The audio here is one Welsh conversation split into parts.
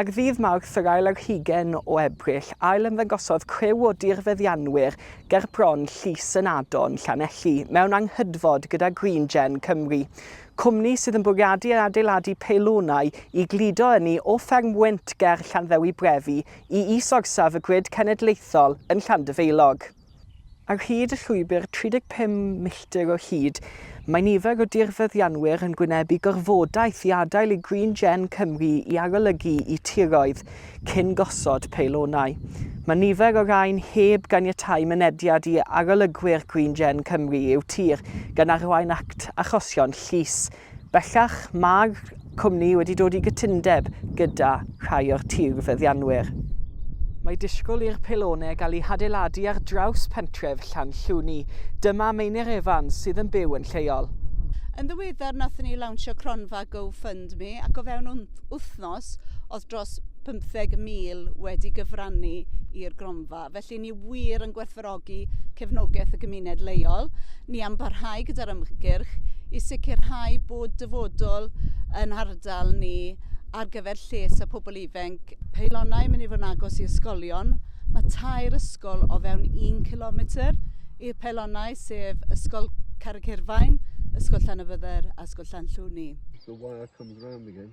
Ar ddydd Mawrth yr ail ar hugain o Ebrill, ail-ymddangosodd criw o dirfeddianwyr gerbron llys yn Adon, Llanelli, mewn anghydfod gyda GreenGen Cymru, cwmni sydd yn bwriadu adeiladu peilonau i gludo ynni o fferm wynt ger Llanddewi Brefi i is-orsaf y grid cenedlaethol yn Llandyfeilog. Ar hyd y llwybr, 35 milltir o hyd, mae nifer o dirfeddianwyr yn gwynebu gorfodaeth i adael i Green Gen Cymru i arolygu i tiroedd cyn gosod peilonau. Mae nifer o rain heb ganiatáu mynediad i arolygwyr Green Gen Cymru i'w tir, gan arwain at achosion llys. Bellach, mae'r cwmni wedi dod i gytundeb gyda rhai o'r tirfeddianwyr. Mae disgwyl i'r pylonau gael eu hadeiladu ar draws pentref Llanllwni. Dyma Meinir Evans sydd yn byw yn lleol. Yn ddiweddar nathon ni lawnsio cronfa Go Fund Me ac o fewn wythnos o'dd dros 50 mil wedi gyfrannu i'r gronfa. Felly, ni wir yn gwerthfawrogi cefnogaeth y gymuned leol. Ni am barhau gyda'r ymgyrch i sicrhau bod dyfodol yn ardal ni ar gyfer lles y pobl ifanc. Peilonau yn mynd i fod yn agos i ysgolion. Mae tair ysgol o fewn un kilometr i'r peilonau, sef Ysgol Carreg Hirfaen, Ysgol Llanybydder a Ysgol Llanllwni. It's the wire comes round again.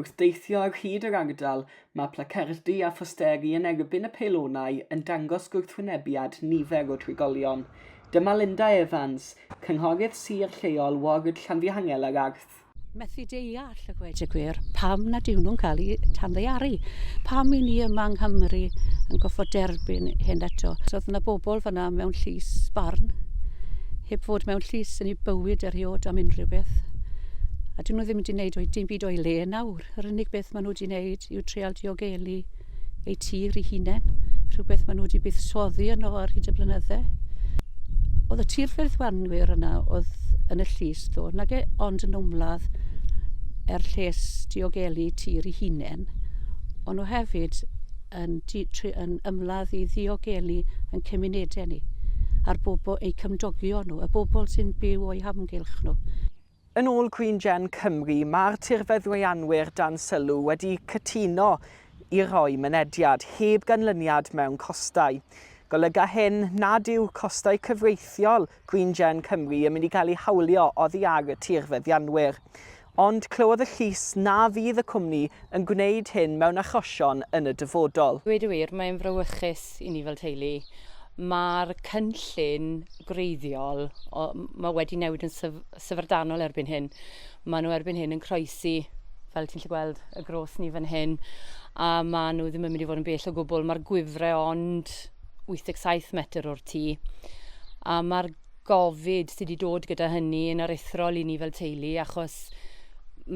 Wrth deithio ar hyd yr ardal, mae placardi a phosteri yn erbyn y peilonau yn dangos gwrthwynebiad nifer o drigolion. Dyma Linda Evans, cynghorydd sir lleol ward Llanfihangel ar Arth. Methu deall, a gweud y gwir, pam nad yw nhw'n cael eu tanddaearu. Pam i ni yma yng Nghymru yn goffod derbyn hyn eto. Oedd 'na bobl fan'na mewn llys barn, heb fod mewn llys yn eu bywyd erioed am unrhyw beth, a 'dyn nhw ddim 'di 'neud o'i dim Nid o'i le nawr. Yr unig beth maen nhw wedi wneud yw treol diogelu eu tir i hunain, rhywbeth maen nhw wedi buddsoddi yno ar hyd y blynyddau. Oedd y tir ffyrddwanwyr yna oedd yn y llys ddo, nag e ond yn ymladd er lles diogelu tir i hunain, ond nhw hefyd yn, yn ymladd i ddiogelu yn cymunedau ni, a'r bobl, eu cymdogion nhw, y bobl sy'n byw o'i hamgylch nhw. Yn ôl Green Gen Cymru, mae'r tirfeddwyannwyr dan sylw wedi cytuno i roi mynediad heb ganlyniad mewn costau. Golyga hyn nad yw costau cyfreithiol Green Gen Cymru yn mynd i gael eu hawlio oddi ar y tirfeddianwyr. Ond clywodd y llys na fydd y cwmni yn gwneud hyn mewn achosion yn y dyfodol. Dweud y wir, mae'n frawychus i ni fel teulu. Mae'r cynllun gwreiddiol, o, mae wedi newid yn syf syfrdanol erbyn hyn. Mae nhw erbyn hyn yn croesi, fel ti'n lli gweld, y gros ni fan hyn, a mae nhw ddim yn mynd i fod yn bell o gwbl. Mae'r gwifre ond 87 metr o'r tŷ, a mae'r gofid sy 'di dod gyda hynny yn aruthrol i ni fel teulu achos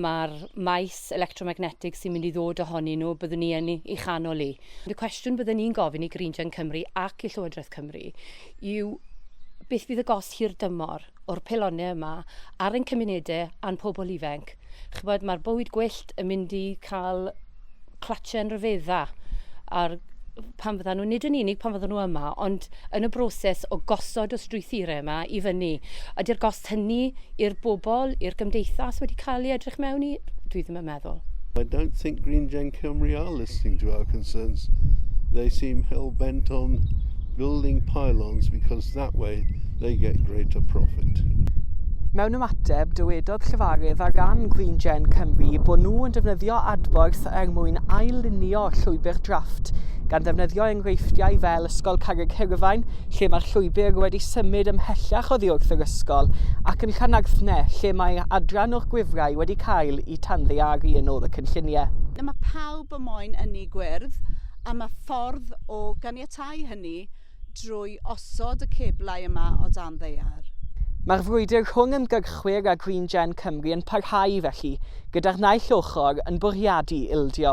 ma'r maes electromagnetig sy'n mynd i ddod ohonyn nhw byddwn ni yn ei chanol hi. Y cwestiwn bydden ni'n gofyn i Green Gen Cymru ac i Llywodraeth Cymru yw beth fydd y gost hirdymor o'r pelonne yma ar ein cymunede a'n pobl ifenc. Ch'bod ma'r bywyd gwyllt yn mynd i cael clatschen ryfedda ar pan fyddan nhw, nid yn unig pan fyddan nhw yma, ond yn y broses o gosod y strwythurau yma i fyny. Ydy'r gost hynny i'r bobl, i'r gymdeithas wedi cael ei edrych mewn i? Dwi ddim yn meddwl. I don't think Green Gen Cymru are listening to our concerns. They seem hell-bent on building pylons because That way they get greater profit. Mewn ymateb, dywedodd llefarydd ar ran Green Gen Cymru bod nhw yn defnyddio adborth er mwyn ailunio llwybr drafft, gan ddefnyddio enghreifftiau fel Ysgol Carreg Hirfaen, lle mae'r llwybr wedi symud ymhellach oddi wrth yr ysgol, ac yn Llanarthne, lle mae adran o'r gwifrau wedi cael eu tanddearu yn ôl y cynlluniau. Mae pawb y moyn ynni gwyrdd a mae ffordd o ganiatáu hynny drwy osod y ceblau yma o dan ddaear. Mae'r frwydr rhwng ymgyrchwyr a Green Gen Cymru yn parhau felly, gyda'r naill ochr yn bwriadu ildio.